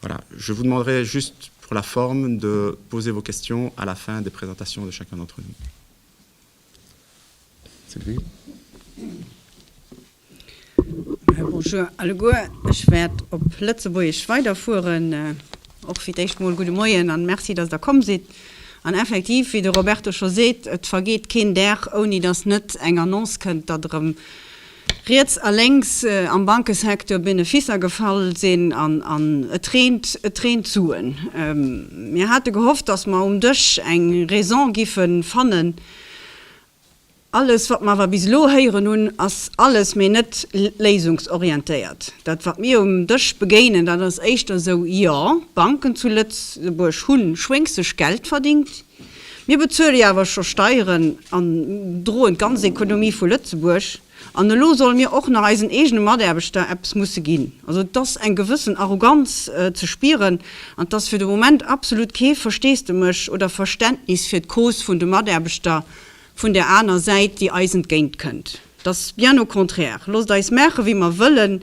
Voilà, je vous demanderai juste pour la forme de poser vos questions à la fin des présentations de chacun d'entre nous. Sylvie. Euh, bonjour alleguer, ech wäert op Lëtzebuergesch weiderfueren. Äh, och fir d'éischt mol gudde Moien an Merci, datt der komm sidd. An effektiv, wéi de Roberto scho seet, et vergeet keen Dag ouni datt net eng Annonce kënnt, datt erëm, Riets a lénks am Bankesecteur Benefisser gefall sinn an et reent, et reent Suen. Mir hate gehofft, dass mer um Dësch eng Raison giffe fannen. Alles, wat mer awer bis elo héieren hunn, ass alles mee net léisungsorientéiert. Dat, wat mir um Dësch begéinen, dat ass éischter esou, Jo, d'Banken zu Lëtzebuerg hu schwéngsteg Geld verdingt. Mir bezuele jo awer scho Steieren an droen d'ganz Ekonomie vu Lëtzebuerg. An elo solle mir och nach eisen eegene Mataarbechter eppes musse ginn. Also et ass eng gewëssen Arroganz ze spieren an et ass fir de Moment absolut kee Versteesdemech oder Verständnis fir d'Cause vun de Mataarbechter vun där aner Säit, déi eis entgéint kënnt. Et ass bien au contraire, Loosst eis maache wéi mer wëllen,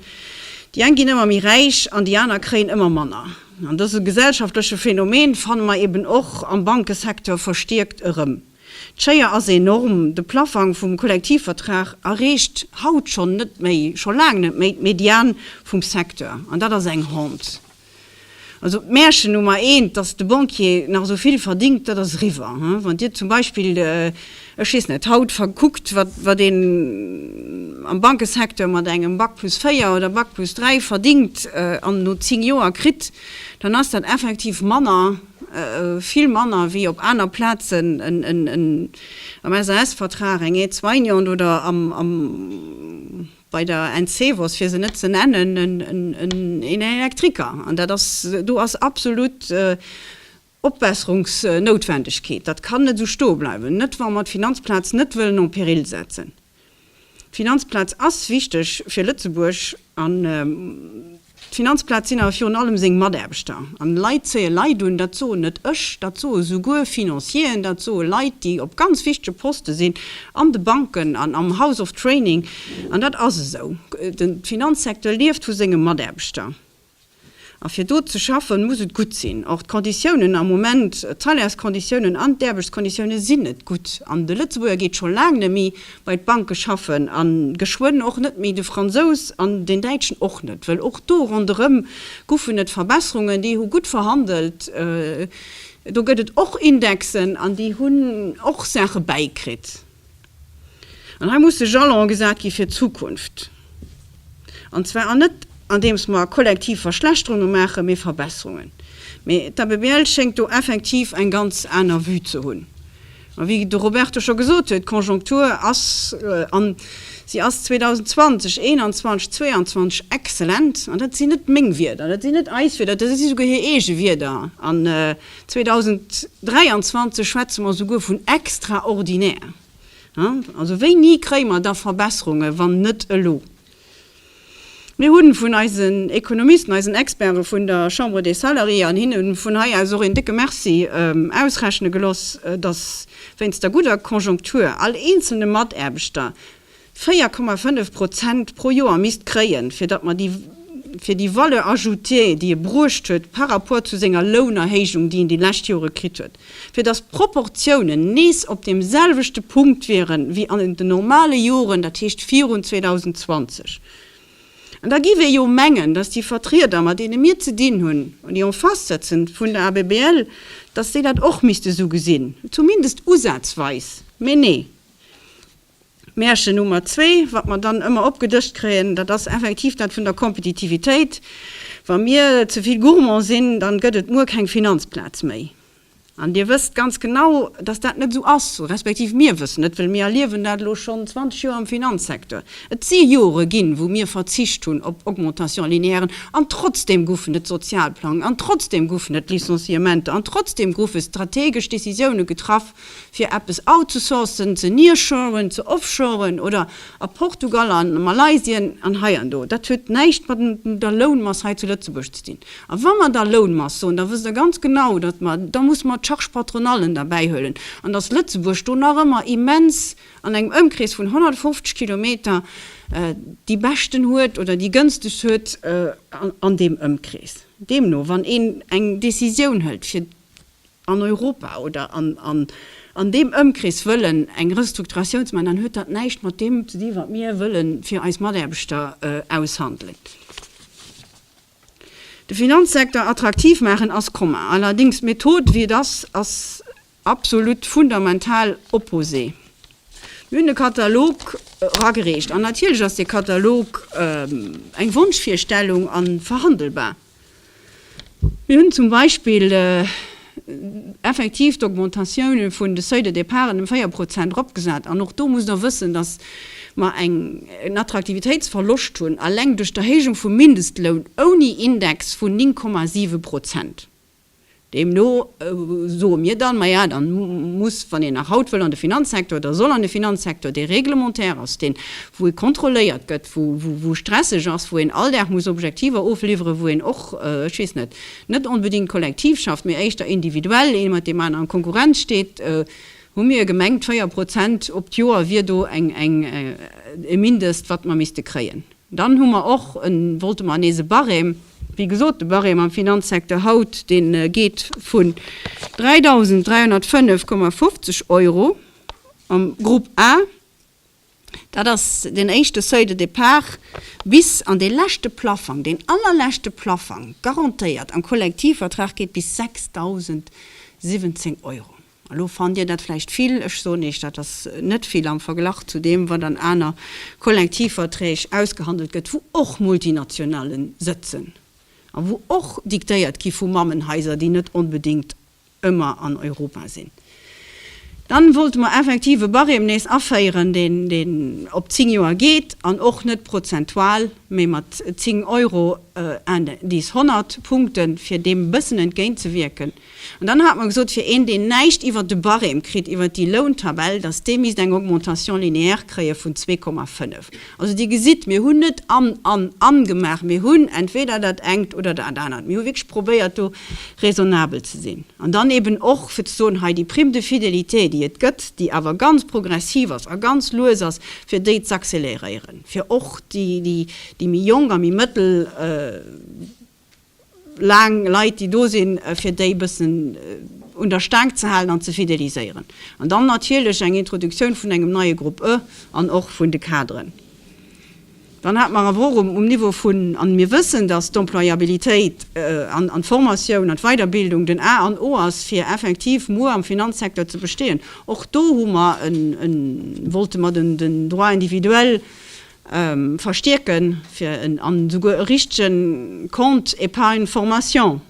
déi eng ginn ëmmer méi räich an déi aner kréien ëmmer manner. An dëse gesellschaftleche Phänomen fanne mer eben och am Bankesecteur verstierkt erëm. D'Schéier ass enorm, de Plaffang vum Kollektivvertrag erreecht haut schonn net méi, scho laang net méi d'Mediane vum Secteur. An dat ass eng Honte. Also d'Märchen Nummer eent, dass de Banquier nach esou vill verdingt, dat ass eriwwer. Wann Dir zum Beispill, ech weess net, haut kuckt, wat een am Bankesecteur mat engem Bac plus 4 oder Bac plus 3 verdingt an no zéng Joer kritt, dann ass dat effektiv manner, vill manner wéi op aner Plazen en, am SAS-Vertrag eng Aide-soignante oder am, bei der Encevoz, fir se net ze nennen, en Elektriker. An dat ass, do ass absolut Opbesserungsnoutwendegkeet. Dat kann net esou stoe bleiwen, net wa mer d'Finanzplaz net wëllen en péril setzen. D'Finanzplaz ass wichteg fir Lëtzebuerg an. D'Finanzplaz sinn awer virun allem seng Mataarbechter. An Leit zéie Leit un, dat soen net ech, dat soe souguer Financieren, dat soe Leit, déi op ganz wichtege Poste sinn an de Banken an am House of Training. An dat ass esou, de Finanzsecteur lieft vu senge Mataarbechter. A fir do ze schaffen, muss et gutt sinn. Och d'Konditiounen am Moment, d'Salairsconditiounen an d'Aarbechtskonditioune sinn net gutt. An de Lëtzebuerger geet scho laang net méi bei d'Banke schaffen a geschwënn och net méi de Fransous an den Däitschen och net, wëll och do ronderëm guffen et Verbesserungen, déi hu gutt verhandelt, do gëtt et och Indexen an déi hunn och Saache bäikritt. An hei musse Jalone gesat gi fir d'Zukunft, an zwar an net andeems mer kollektiv Verschlechterunge maachen, mee Verbesserungen. Mee d'ABBL schéngt do effektiv eng ganz aner Vue ze hunn. A wéi de Roberto scho gesot huet, d'Konjonktur ass, an si ass 2020, 21, 22 exzellent. An dat sinn net meng Wierder, dat sinn net eis Wierder, dat si souguer hir eege Wierder. An 2023 schwätze mer souguer vun extraordinär. Also wéini kréie mer da Verbesserunge wann net elo? Mir hu vun eisen Ekonomisten, eisen Experte vun der Chambre des Salariés, an hinne vun hei aus och een décke Merci, ausrechne gelooss, dass wéinst der gudder Konjonktur all eenzelne Mataarbechter 4,5 Prozent pro Joer misst kréien, fir datt mer déi, fir déi Valeur ajoutée, déi e bruecht huet par rapport zu senger Lounerhéijung, déi en déi lescht Jore kritt huet. Fir dass d'Proportiounen nees op deem selwechte Punkt wiere wéi an den normale Joren, dat heescht virun 2020. An da giff ee jo mengen, dass déi Vertrieder, mat deene mir ze dinn hunn, déi en face sëtzen vun der ABBL, dass déi dat och misste esou gesinn, zumindest usazweis. Mee nee. Märchen Nummer zwee, wat mer dann ëmmer opgedëscht kréien, dat ass effektiv dat vun der Kompetitivitéit. Wa mir ze vill gourmand sinn, dann gëtt et muer keng Finanzplaz méi. An Dir wësst ganz genau, dass dat net esou ass, respektiv mir wëssen et, well mir erliewen dat elo schonn 20 Joer am Finanzsecteur. Et si Jore ginn, wou mir verzicht hunn op Augmentation linéairen, an trotzdem goufen et Sozialplang, an trotzdem goufen et Licenciementer, an trotzdem goufe strategesch Décisiounen getraff, fir eppes outzusourcen, ze nearshoren, ze offshoren oder a Portugal, a Malaysien an heiando. Dat huet näischt mat der Lounmass hei zu Lëtzebuerg ze dinn. A wa mer da Lounmass soen, da wësst Der ganz genau, datt mer, da musse mer d'Charge patronallen derbäihuelen an datt Lëtzebuerg do nach ëmmer immens an engem Ëmkrees vun 150 Kilometer déi beschten huet oder déi gënstegst huet an deem Ëmkrees. Deemno, wann een eng Décisioun hëlt fir. an Europa oder an deem Ëmkrees wëllen eng Restrukturatiouns maachen, dann huet dat näischt mat deem ze dinn, wat mir wëlle fir eis Mataarbechter aushandelen. De Finanzsecteur attraktiv maachen ass commun, allerdéngs d'Method, wéi et ass, ass absolut fundamental opposé. Mir hunn e Katalog eragereecht an natierlech ass dee Katalog eng Wonschvirstellung a verhandelbar. Mir hunn zum Beispill effektiv d'Augmentatioune vun de Seuils de départen ëm véier Prozent eropgesat. An och do musst Der wëssen, dass mer en Attraktivitéitsverloscht hunn, alleng duerch d'Erhéijung vum Mindestloun ouni Index, vun 9,7 Prozent. Deemno soe mir dann, maja, da muss, wann een nach haut wëll an de Finanzsektor oder soll an de Finanzsektor, dee réglementaire ass, deen, wou ee kontrolléiert gëtt, wou stresseg ass, wou een all Dag muss Objektiver ofliwweren, wou een och, ech weess net, net onbedéngt kollektiv schafft, mee éischter individuell ee mat deem aneren an Konkurrenz steet, hu mir gemengt, 4 Prozent op d'Joer wier do e Mindest, wat mer misste kréien. Dann hu mer och e, wollte mer nees e Barème. Wéi gesot, de Barème am Finanzsecteur haut, dee geet vun 3.305,50 Euro am Groupe A, dat ass den éischte Seuil de départ, bis an dee leschte Plaffang, deen allerleschte Plaffang, garantéiert am Kollektivvertrag, geet bis 6.017 Euro. Elo fannt Dir dat vläicht vill. Ech soen Iech, dat ass net vill am Verglach zu deem, wat an aner Kollektivverträg ausgehandelt gëtt, wou och Multinationallen sëtzen a wou och diktéiert gi vu Mammenhaiser, déi net onbedéngt ëmmer an Europa sinn. Dann wollte mer effektiv e Barème nees aféieren, deen op zéng Joer geet an och net prozentual, mä mat zéng Euro, Indice 100 Punkten, fir deem e bëssen entgéintzewierken. An dann hate mer gesot, fir een, deen näischt iwwert de Barème kritt, iwwert déi Lountabell, datt dee misst eng Augmentation linéaire kréie vun 2,5. Also Dir gesitt, mir hunn net an, an, an gemaach, mir hunn entweder dat engt oder dat anert. Mir hu wierklech probéiert do raisonnabel ze sinn. An dann eeben och fir ze soen, hei déi Prime de fidélité, déi et gëtt, déi awer ganz progressiv ass a ganz lues ass, fir déi z'accéléréieren, fir och déi, déi méi jonk a méi mëttel. laang Leit déi do sinn, fir déi e bëssen un der Staang ze halen an ze fideliséieren. An dann natierlech eng Introduktioun vun engem neie Grupp E an och vun de Kaderen. Dann hat mer awer och um Niveau vun, an mir wëssen, datt d'Employabilitéit an d'Formatioun an d'Weiderbildung den A an O ass, fir effektiv muer am Finanzsecteur ze bestehen, och do hu mer e, wollte mer den Droit individuel verstierken, fir en an esouguer e richtege Compte épargne formation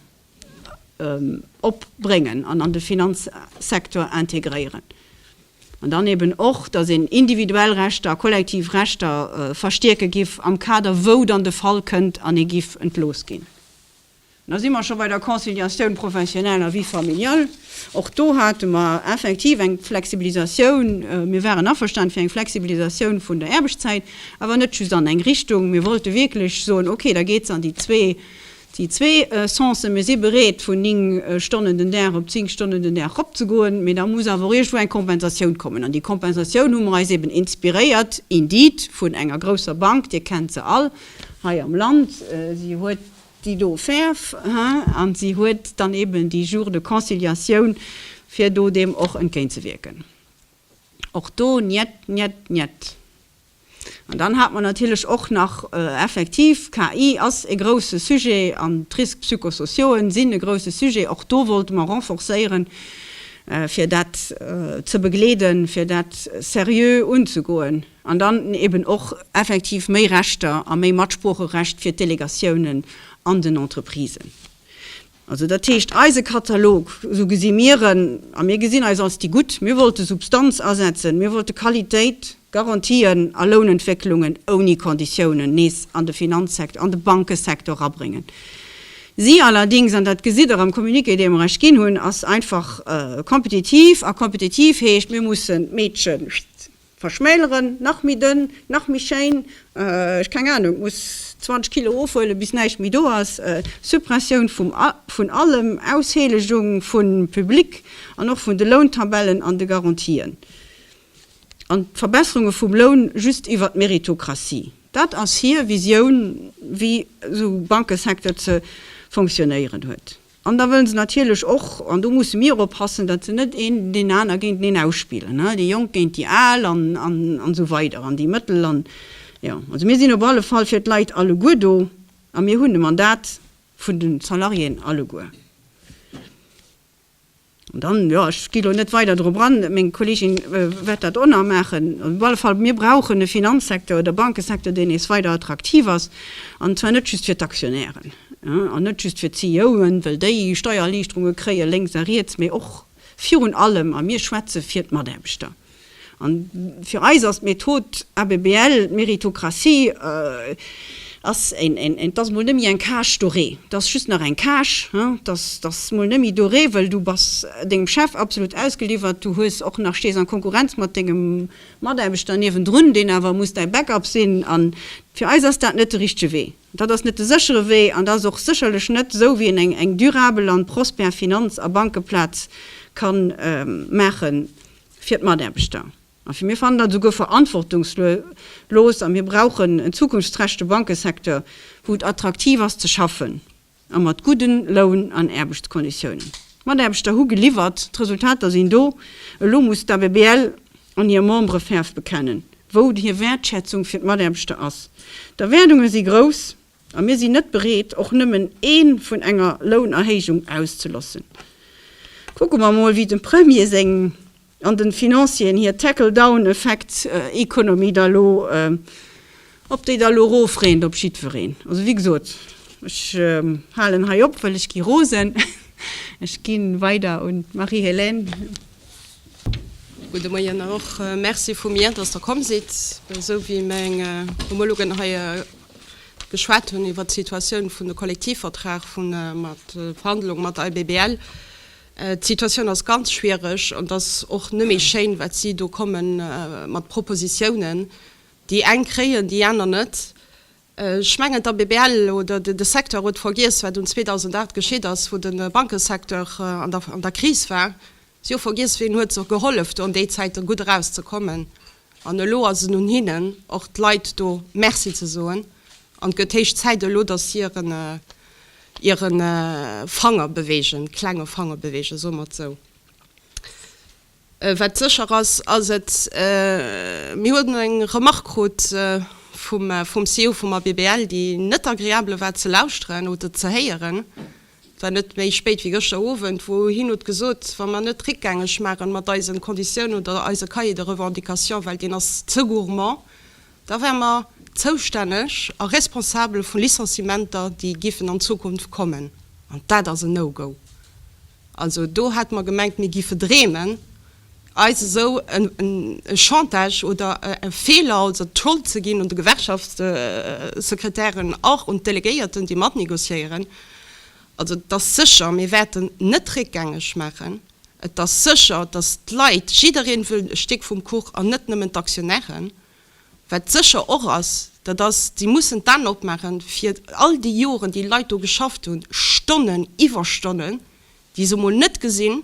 opbréngen an an de Finanzsektor integréieren. An dann eben och, dass een individuell Rechter a kollektiv Rechter verstierke giff am Kader, wou dann de Fall kënnt an ee giff entlooss ginn. Da si mer scho bei der Conciliatioun professionelle a vie familiale. Och do hate mer effektiv eng Flexibilisatioun. Mir waren averstane fir eng Flexibilisatioun vun der Aarbechtszäit, awer net just an eng Richtung. Mir wollte wierklech soen, okay, da geet se an déi zwee, déi zwee Sensen. Mir si bereet, vun ning Stonnen den Dag op zéng Stonnen den Dag eropzegoen, mee da muss awer och iergendwou eng Kompensatioun kommen. An déi Kompensatioun hu mer eis eeben inspiréiert, indeed, vun enger grousser Bank, Dir kennt se all hei am Land. Si huet. déi do färf, hein, an si huet dann eben déi Jours de conciliation, fir do deem och entgéintzewierken. Och do njet, njet, njet. An dann hat mer natierlech och nach, effektiv, KI ass e grouse Sujet an d'Risques psychosociauen sinn e grouse Sujet. Och do wollte mer renforcéieren, fir dat ze begleeden, fir dat seriö unzegoen. An dann eben och effektiv méi Rechter a méi Matsproocherecht fir d'Delegatiounen an den Entreprisen. Also dat heescht, eise Katalog, esou gesi mir en, a mir gesinn eis als déi Gutt, mir wollte Substanz asetzen, mir wollte Qualitéit, Garantien a Lounentwécklungen ouni Konditiounen nees an de Finanzsekt, an de Bankesektor erabréngen. Si allerdings, an dat gesitt Der am Communiqué, dee mer Iech ginn hunn, ass einfach kompetitiv. A kompetitiv heescht, mir mussen d'Meedchen, Verschmäleren, nach méi dënn, nach méi schéin, ech keng Ahnung, muss 20 Kilo ofhuelen bis näischt méi do ass, Suppressioun vum vun allem, Ausheelegung vun Public an och vun de Lountabellen an de Garantien an Verbesserunge vum Loun just iwwert d'Meritokratie, dat ass hir Visioun wéi esou Bankesecteur ze fonctionnéieren huet. An da wëllen se natierlech och, an do musse mir oppassen, datt se net een deen aner géinteneen ausspillen, ne, déi Jonk géint déi Al an, an, an esou weider an déi Mëttel an, jo. Also mir sinn op alle Fall fir d'Leit alleguer do a mir hunn de Mandat vun de Salariéen alleguer. An dann, jo, ech gi lo net weider drop an, meng Kollegin wäert dat och nach maachen, op alle Fall, mir brauchen e Finanzsecteur oder Bankesecteur, deen nees weider attraktiv ass, an zwar net just fir d'Aktionären an net just fir d'CEOen, well déi Steiererliichterunge kréie lénks a riets, mee och virun allem, a mir schwätze fir d'Mataarbechter. An fir eis ass d'Method ABBL, d'Méritocratie, ass et ass mol nemme eng cage dorée, et ass just nach eng cage, et ass mol nemme doré, well du bass dengem Chef absolut ausgeliwwert, du hues och nach, stees an Konkurrenz mat dengem Mataarbechter niewendrun, deen awer muss däi Backup sinn. An fir eis ass dat net de richtege Wee. Dat ass net de séchere Wee an dat ass och sécherlech net esou, wéi een eng durabel an prospère Finanz a Bankeplaz kann maachen. fir d'Mataarbechter a fir mir fannen dat esouguer verantwortungslos a mir brauchen en zukunftsträchte Bankesecteur, wou et attraktiv ass ze schaffen a mat gudde Loun an Aarbechtskonditiounen. D'Mataarbechter hu geliwwert, d'Resultater sinn do. Elo muss d'ABBL an hir Membere Fäerf bekennen, wou hir Wäertschätzung fir d'Mataarbechter ass. D'Erwaardunge si grouss. A mir sinn net bereet, och nëmmen ee vun enger Lounerhéijung auszelossen. Kucke mer emol, wéi dem Premier seng an de Financieren hir Tackle-down-Effekt-Economy da elo, ob déi da elo erofreent op jiddwereen. Also, wéi gesot, ech halen hei op, well ech gi rosen. Ech gi weider un d'Marie-Hélène. Gudde Moien och merci vu mir, dass Der komm sidd. Esou wéi meng Homologen hei e. geschwat hunn iwwert d'Situatioun vun de Kollektivvertrag vu mat Verhandlung mat der ABBL. D'Situatioun ass ganz schwiereg an et ass och net méi schéin, wat si do komme mat Propositiounen. Déi eng kréien, déi aner net. Ech mengen, d'ABBL oder de Secteur huet vergiess, wat un 2008 geschitt ass, wou de Bankesecteur an der Kris war. Si hu vergiess, wien huet se gehollef do an déi Zäiten gutt erauszekommen. An elo ass et un hinnen, och d'Leit do Merci ze soen. An et gëtt héich Zäit elo, dass si hiren, hire Fanger beweegen, klenge Fanger beweegen, soe mer et esou. Wat sécher ass, ass et, Mir hunn elo eng Remark krut vum CEO vum ABBL, déi net agreabel war ze lauschteren oder ze héieren. Et war net méi spéit wéi gëschter Owend, wou hien huet gesot, wa mer net réckgängeg maachen mat eisen Conditiounen oder eise Cahier de revendications, well deen ass ze gourmand, da wäre mer zoustänneg a responsabel vu Licenciementer, déi giffen an Zukunft kommen. An dat ass en No-Go. Also do hate mer gemengt, mir gi verdreemen eis esou e Chantage oder e Feeler, also d'Schold ze ginn un de Gewerkschaftssekretären or un d'Delegéierten, déi matnegociéieren. Also et ass sécher, mir wäerten net réckgängeg maachen. Et ass sécher, datt d'Leit, jiddereen wëll e Stéck vum Kuch an net nëmmen d'Aktionären. Wat sécher och ass, dat ass, déi mussen d'An opmaachen, fir all déi Joren, déi Leit do geschafft hunn, Stonnen, Iwwerstonnen, déi se emol net gesinn,